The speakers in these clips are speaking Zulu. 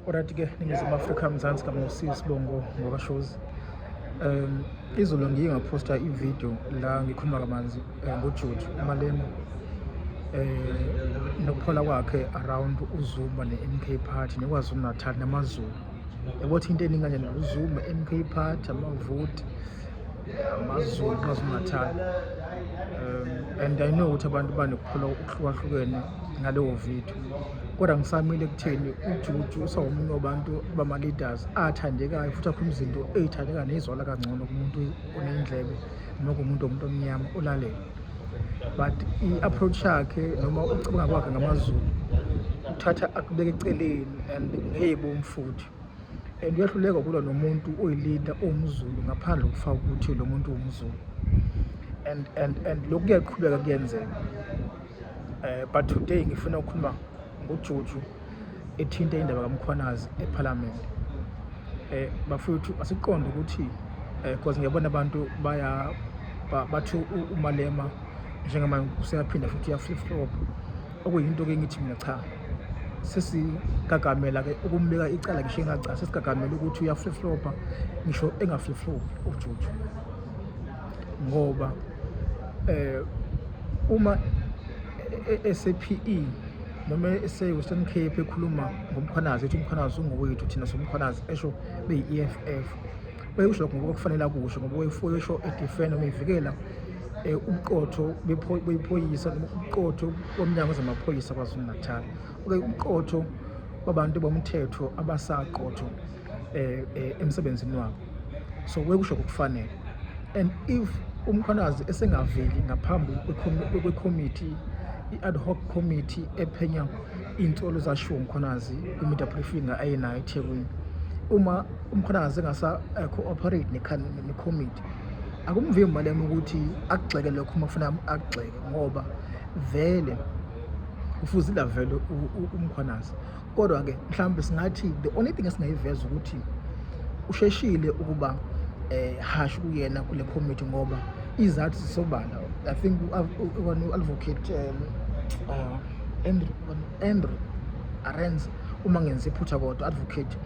Alright ke ningizimu Afrika Mzansi kamusi sibongo ngoba shows um izolo ngiye ngaphosta ividiyo la ngikhuluma kamanzi eh, ngojuju umalema um nokuphola kwakhe around uzuma ne-mk party nekwazulu natal namazulu yabothi into eningi kanjani uzuma mk party amavoti amazulu kwazulu natal um and i know ukuthi abantu banokuphola okuhlukahlukene ngalowo video kodwa ngisamile kutheni ujuju usawumunye wabantu bama-leaders athandekayo futhi akhuluma izinto eyithandeka neyizwala kangcono kumuntu onendlebe noma kumuntu womuntu omnyama olalele but i-approach yakhe noma ukucabanga kwakhe ngamazulu uthatha akubeke eceleni and ngeyibom futhi and uyahluleka kulwa nomuntu oyilida owumzulu ngaphandle kokufaka ukuthi lo muntu wumzulu and and and lokhu kuyaqhubeka kuyenzeka eh, but today ngifuna ukukhuluma ngojuju ethinta indaba kamkhwanazi ephalamende eh bafuthu asiqonde ukuthi eh because ngiyabona abantu baya bathu umalema njengamanje useyaphinda futhi ya flip flop okuyinto ke ngithi mina cha sesigagamela ke ukumbeka icala ngisho engaca sesigagamela ukuthi uya flip flopa ngisho enga flip flop ujuju ngoba eh uma esePE e, noma ese-Western Cape ekhuluma ngomkhwanazi ethi umkhwanazi ungowethu thina somkhwanazi esho beyi-EFF wayekusho lokho ngoba kufanele akusho ngoba wayefuyesho edefenda noma evikela Eh, umqotho bephoyisa umqotho womnyango wezamaphoyisa kwazulu-natal okay umqotho wabantu bomthetho abasaqotho eh, eh, emsebenzini wabo so wekusho kokufanele and if umkhwanazi esengaveli ngaphambi kwekhomithi i-ad hoc committee ephenya iy'nsolo zashiwo umkhwanazi kwi-media briefing ayenayo ethekwini uma umkhwanazi engasa-cooperate nekhomithi akumvimbi malema ukuthi akugxeke lokho uma kufuna akugxeke ngoba vele ufuze lavele umkhwanazi kodwa-ke mhlawumbe singathi the only thing esingayiveza ukuthi usheshile ukuba eh hash kuyena kule committee ngoba izathu zisobala i think one advocate um, uh, Andrew Andrew Arenz uma ngenza iphutha kodwa advocate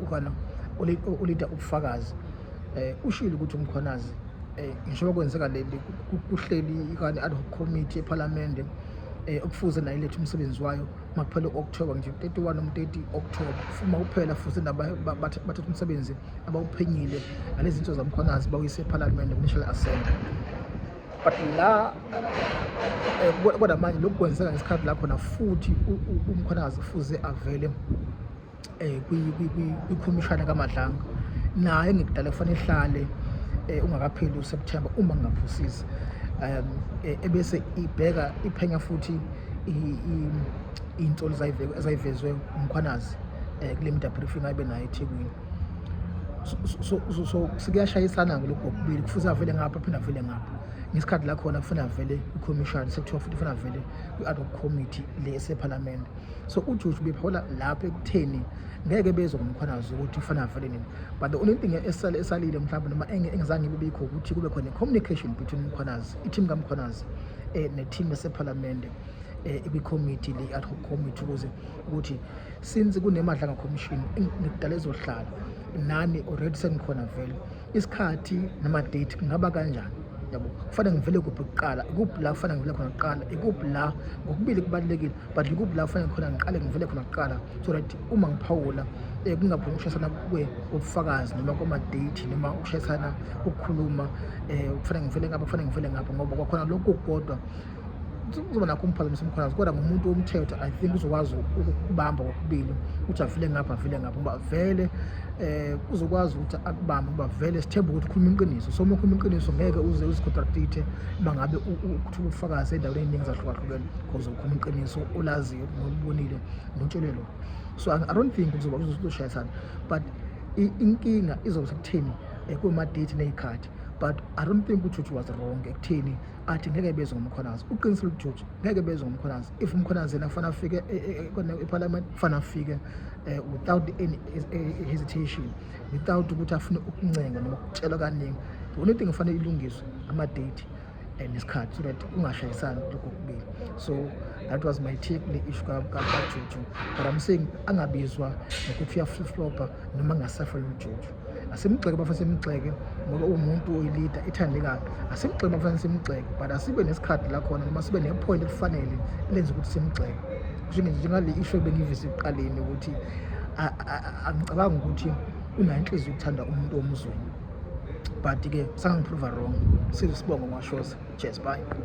ukana ulida ubufakazi eh ushilo ukuthi umkhonazi eh ngisho kwenzeka leli kuhleli ikani ad hoc committee eParliament eh okufuze nayo lethu umsebenzi wayo makuphela u-October nje 31 noma 30 October uma kuphela futhi bathatha umsebenzi abawuphenyile nalezi zinto zamkhwanazi bawuyise eParliament kuNational Assembly but la eh, kodwa manje lokhu kwenzeka ngesikhathi la khona futhi umkhwanazi kufuze avele eh, kwikhomishana kamadlanga naye ngikudala kufanele ihlale eh, ungakapheli useptemba uma ngingaphosisi um eh, ebese ibheka iphenya futhi iy'nsolo ezayivezwe umkhwanazi um kule media briefing ayibe nayo ethekwini so sikuyashayisana-ke lokhu kokubili kufuze avele ngapha aphinde avele ngapha ngesikhathi la khona kufanele avele kwikhomishani sekuthiwa futhi kufanele avele kwi-ad hoc committee le esephalamende so ujuju bephola lapho ekutheni ngeke bezwe ngomkhwanazi ukuthi ufana avele nini but the only thing esale esalile mhlawumbe noma engizange bibikho ukuthi kube khona i-communication between umkhwanazi i-team kamkhwanazi um ne-team esephalamende um eh, kwikhomithi le ad hoc committee ukuze ukuthi since kunemadlanga commission ngidala ezohlala nani already sengikhona vele isikhathi nama-date kungaba kanjani yabo kufanele ngivele kuphi kuqala ikuphi la kufanele ngivele khona kuqala ikuphi la ngokubili kubalulekile but ikuphi la kufanele khona ngiqale ngivele khona kuqala so that uma ngiphawula um eh, kungaphumi ukushayisana kube ubufakazi noma kwama-date noma ukushayisana ukukhuluma um eh, kufanele ngivele ngapha kufanele ngivele ngapha ngoba kwakhona lokhu kukodwa kuzoba nakho umphazamisa umkhalazo kodwa ngumuntu womthetho i think uzokwazi ukubamba kokubili ukuthi avile ngapha avile ngapha uba vele um uzokwazi ukuthi akubambe uba vele sithembe ukuthi ukhuluma iqiniso so uma ukhuluma iqiniso ngeke uze uzicontractithe uma ngabe ukuthuka ubufakazi endaweni ey'ningi zahlukahlukene because ukhuluma iqiniso olaziyo nolubonile notshelwe lona so i don't think kuzoba kuzoshayisana but inkinga izobe sekutheni eh, kuma-date ney'khathi but i don't think ukuthi uthi was wrong ekutheni athi ngeke bezwe ngomkhonazi uqinisa lujuju ngeke bezwe ngomkhonazi if umkhonazi yena kufanele afike e, e, e, eparliament kufanele afike eh, without any hesitation without ukuthi afune ukuncenga noma ukutshelwa kaningi the only thing kufanele ilungiswe ama-date and isikhathi so that kungashayisani lokho kubili so that was my take le issue kajuju but i'm saying angabizwa nokuthi uyaflipflopa noma angasafela ujuju asimgxeke bafana simgxeke ngoba uwumuntu oyilida ithandekayo asimgxeke bafana simgxeke but asibe nesikhathi la khona noma sibe nephoyinti elifanele elenza ukuthi simgxeke kusho nje njengale isho ebengivise ekuqaleni ukuthi angicabangi ukuthi unayo inhliziyo ukuthanda umuntu omzweni but-ke sangangiprova wrong sizwe sibongo ngwashoza cheers bye